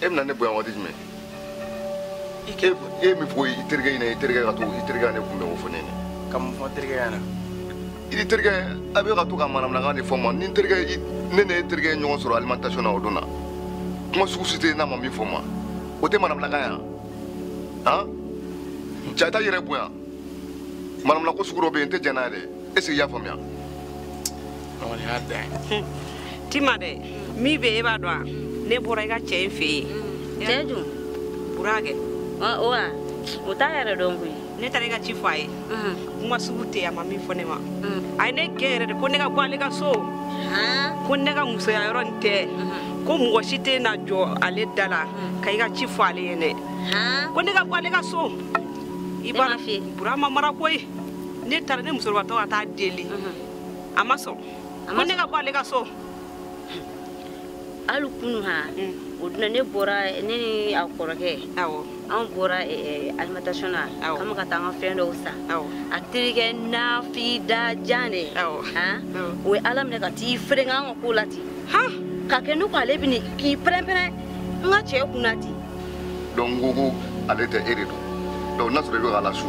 e bɛna ne bonya waati jumɛn e mun fɔ i terikɛ ɲɛna i terikɛ ka to i terikɛ ne kunbɛn o fɔ ne ɲɛna ka mun fɔ terikɛ ɲɛna i terikɛ a bɛ ka to ka manamanakan de fɔ n ma ni n terikɛ ne ni e terikɛ ye ɲɔgɔn sɔrɔ alimentation na o don na kuma sugu si tɛ yen n'a ma min fɔ n ma o tɛ manamanakan ye han ja i t'a yɛrɛ bonya manamanako sugu dɔ bɛ yen n tɛ jɛn n'a ye dɛ est ce que i y'a faamuya tima dɛ min bɛ e b'a dɔn a ne bɔra i ka cɛ in fɛ yen cɛ dun burakɛ wa o t'a yɛrɛ dɔn koyi ne taara i ka ci fɔ a ye kuma sugu tɛ a ma min fɔ ne ma a ye ne gɛn yɛrɛ de ko ne ka bɔ ale ka so ko ne ka musoya yɔrɔ nin tɛ ko mɔgɔ si tɛ na jɔ ale da la ka i ka ci fɔ ale ye dɛ ko ne ka bɔ ale ka so i b'a burama mara koyi ne taara ne musokɔrɔbatɔ ka t'a deli a ma sɔn ko ne ka bɔ ale ka so hali kunu ha mm. o don na ne bɔra ne ni a kɔrɔkɛ an bɔra eh, eh, alimentation na k'an ka taa an ka fɛn dɔw san a terikɛ nafi da jan de o ye ala minɛ ka t'i fereke an ka ko la ten ka kɛ ne ko ale bɛna k'i pɛrɛnpɛrɛn n ka cɛ kun na ten donc n ko ko ale tɛ e de don donc n'a sɔrɔ i bɛ k'a lasu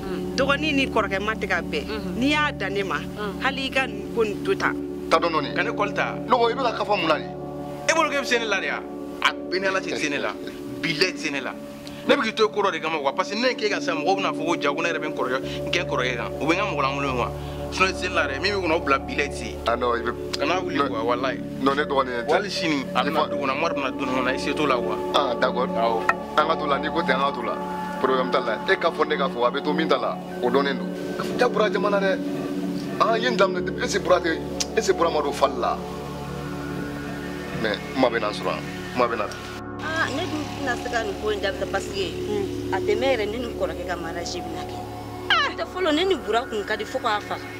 mm. dɔgɔnin ni kɔrɔkɛ ma tɛ ka bɛn mm-hmm. n'i y'a dan ne ma mm. hali i ka nin ko nin to tan ta dɔn dɔɔni ka ne kɔli ta nɔgɔ i bɛ ka kafa mun na de e bolo k'e bɛ se ne la de wa a b'e ni ala cɛ i tɛ se ne la bilayi tɛ se ne la ne bɛ k'i to ko dɔ de kama quoi parce que ne ye k'e ka sa mɔgɔw bɛna fɔ ko ja ko ne yɛrɛ bɛ n kɔrɔkɛ n kɛ n kɔrɔkɛ kan u bɛ n ka mɔgɔ lankolon quoi sinon i tɛ se ne la dɛ min b'i kɔnɔ o bila bilayi tɛ se ah non i bɛ kana wuli quoi walayi non ne dɔgɔnin wali sini a bɛna du kɔnɔ mɔri bɛna du kɔnɔ i se t'o la quoi ah d'accord awɔ an ka t'o la n'i ko ten an ka t'o la problème t'a la e k'a fɔ ne k'a fɔ a bɛ to min ta la o dɔnnen don ja bura jama na dɛ an ye nin daminɛ depuis est ce bura tɛ est ce que bura ma don fali la mais kuma bɛ na sɔrɔ yan kuma bɛ na ne dun tɛna se ka nin ko in dabila parce que a tɛ mɛn yɛrɛ ne ni kɔrɔkɛ ka mariage bɛna kɛ tɛ fɔlɔ ne ni bura kun ka di fo k'a faga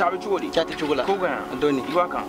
Cɛ a bɛ cogo di? Cɛ a tɛ cogo la. Ko ka ɲi wa? Dɔɔni. I b'a kan?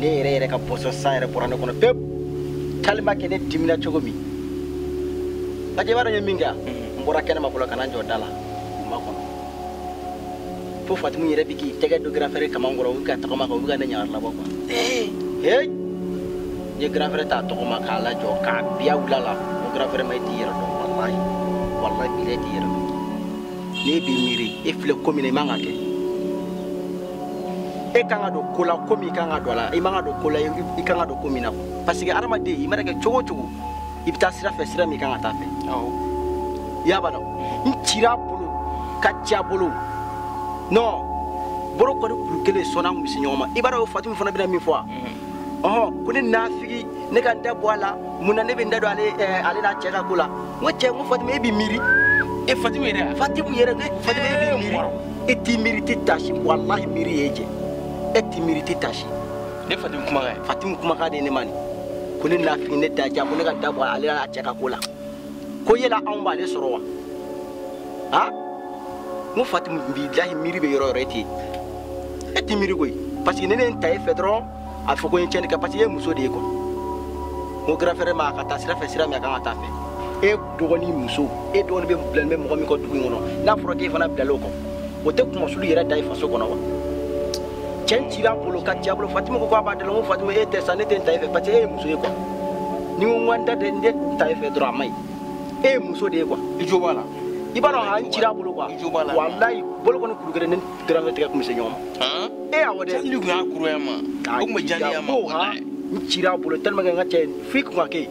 ne yɛrɛ yɛrɛ ka poisson san yɛrɛ bɔra ne kɔnɔ pewu tellement que ne dimina cogo min lajɛ i b'a dɔn n ye min kɛ yan mhm. n bɔra kɛnɛma fɔlɔ ka na n jɔ da la u makɔnɔ fo fatimu yɛrɛ bɛ k'i tɛgɛ don grand frère kaman kɔrɔ u bɛ ka tagama kan u bɛ ka ne ɲagari labɔ quoi ee n ye grand frère ta tɔgɔma k'a lajɔ k'a biya wula la ko grand frère ma i t'i yɛrɛ dɔn walayi walayi bilayi i t'i yɛrɛ dɔn n'e b'i miiri e filɛ ko min na i man ka kɛ e kan ka don ko la ko min i kan ka don a la i man ka don ko la i kan ka don ko min na parce que hadamaden i mana kɛ cogo o cogo i bɛ taa sira fɛ sira min i kan ka taa fɛ i b'a dɔn n cira a bolo ka ci a bolo non bolo kɔni kuru kelen sinon an kun bɛ se ɲɔgɔn ma i b'a dɔn o fatimu fana bɛna min fɔ wa ɔhɔ ko ne nafigi ne ka n da bɔ a la mun na ne bɛ n da don ale eh, ale n'a cɛ ka ko la n ko cɛ n ko fatimu e b'i miiri e fatimu yɛrɛ a fatimu yɛrɛ ne fatimu e b'i miiri e t'i miiri tɛ taasi walahi miiri y'e jɛ e t'i miiri tɛ taasi ne fatimu kumakan fatimu kumakan de ye ne ma nin ko ne nafigi ne da ja ko ne ka da bɔ ale n'a cɛ ka ko la ko yala anw b'ale sɔrɔ wa ha n ko fatimu bilahi miiri bɛ yɔrɔ o yɔrɔ e tɛ yen e tɛ miiri koyi parce que ne ne ta e fɛ dɔrɔn a fɔ ko n ye tiɲɛni kɛ parce que e ye muso de ye quoi n ko grand frère ma a ka taa sira fɛ sira min a kan ka taa fɛ e dɔgɔnin muso e dɔgɔnin bɛ bilalen bɛ mɔgɔ min kɔ dugu in kɔnɔ n'a fɔra k'e fana bilalen o kɔ o tɛ kunmasuli yɛrɛ da i faso kɔnɔ wa cɛ n cira a bolo ka ci a bolo fatimu ko k'a b'a dala n ko fatimu e tɛ sa ne tɛ n ta e fɛ parce que e ye muso ye quoi ni n ko n ka n da de n tɛ n ta e fɛ dɔrɔn a ma ɲi e ye muso de ye quoi i jo b'a la i b'a dɔn a n cira a bolo quoi walayi bolo kɔni kuru kelen ne grand frère tɛgɛ kun bɛ se ɲɔgɔn ma e awɔ dɛ jali kun y'a kuruya ma o tun bɛ jaliya ma n cira a bolo tellement que n ka cɛ f'i kun ka kɛ yen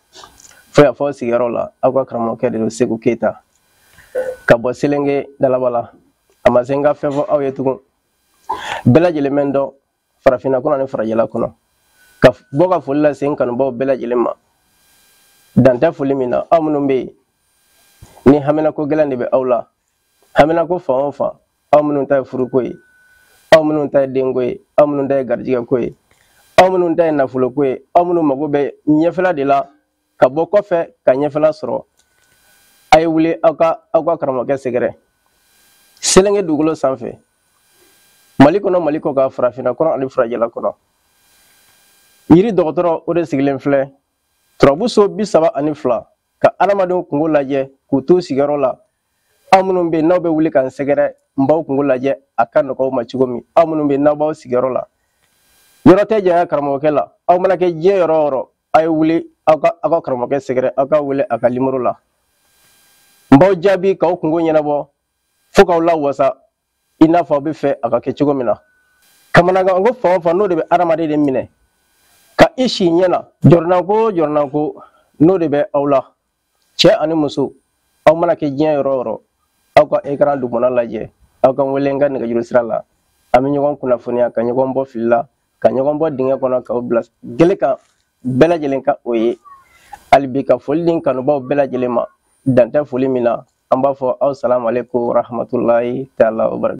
fo yan fo aw sigiyɔrɔ la aw ka karamɔgɔkɛ de don seku keyita ka bɔ selenge dalabala a ma se n ka fɛn fɔ aw ye tugun bɛɛ lajɛlen bɛ n dɔn farafinna kɔnɔ ni farajɛla kɔnɔ ka bɔ ka foli lase n kanubaaw bɛɛ lajɛlen ma dan tɛ foli min na aw minnu bɛ yen ni haminako gɛlɛn de bɛ aw la haminako fan o fan aw minnu ta ye furuko ye aw minnu ta ye denko ye aw minnu ta ye garijigɛ ko ye aw minnu ta ye nafolo ko ye aw minnu mago bɛ ɲɛfɛla de la ka bɔ kɔfɛ ka ɲɛfɛla sɔrɔ a ye wuli aw ka aw ka karamɔgɔkɛ sɛgɛrɛ selenge dugukolo sanfɛ mali kɔnɔ mali kɔkan farafinna kɔnɔ ani farajɛla kɔnɔ yiri dɔgɔtɔrɔ o de sigilen filɛ turabuso bi saba ani fila ka adamadenw kunko lajɛ k'u to sigiyɔrɔ la aw minnu bɛ yen n'aw bɛ wuli ka n sɛgɛrɛ n b'aw kunko lajɛ a ka nɔgɔ aw ma cogo min aw minnu bɛ yen n'aw b'aw sigiyɔrɔ la yɔrɔ tɛ janya karamɔgɔkɛ la aw mana kɛ diɲɛ yɔrɔ o yɔrɔ a ye wuli aw ka aw ka karamɔgɔkɛ sɛgɛrɛ aw ka wele a ka nimoro la n b'aw jaabi k'aw kunko ɲɛnabɔ fo k'aw lawasa i n'a fɔ aw b'a fɛ a ka kɛ cogo min na kamanagan ko fan o fan n'o de bɛ adamaden de minɛ ka i si ɲɛ na jɔrɔnanko o jɔrɔnanko n'o de bɛ aw la cɛ ani muso aw mana kɛ diɲɛ yɔrɔ o yɔrɔ aw ka ekran dugumana lajɛ aw ka wele n ka nɛgɛjuru sira la an bɛ ɲɔgɔn kunnafoniya ka ɲɔgɔn bɔ fili la ka ɲɔgɔn bɔ dingɛ kɔnɔ k'aw bila gele kan bɛɛ lajɛlen ka o ye hali bi ka foli di n kanubaaw bɛɛ lajɛlen ma dan tɛ foli min na an b'a fɔ aw salamu aleykum warahmatulahi taala wabarakatu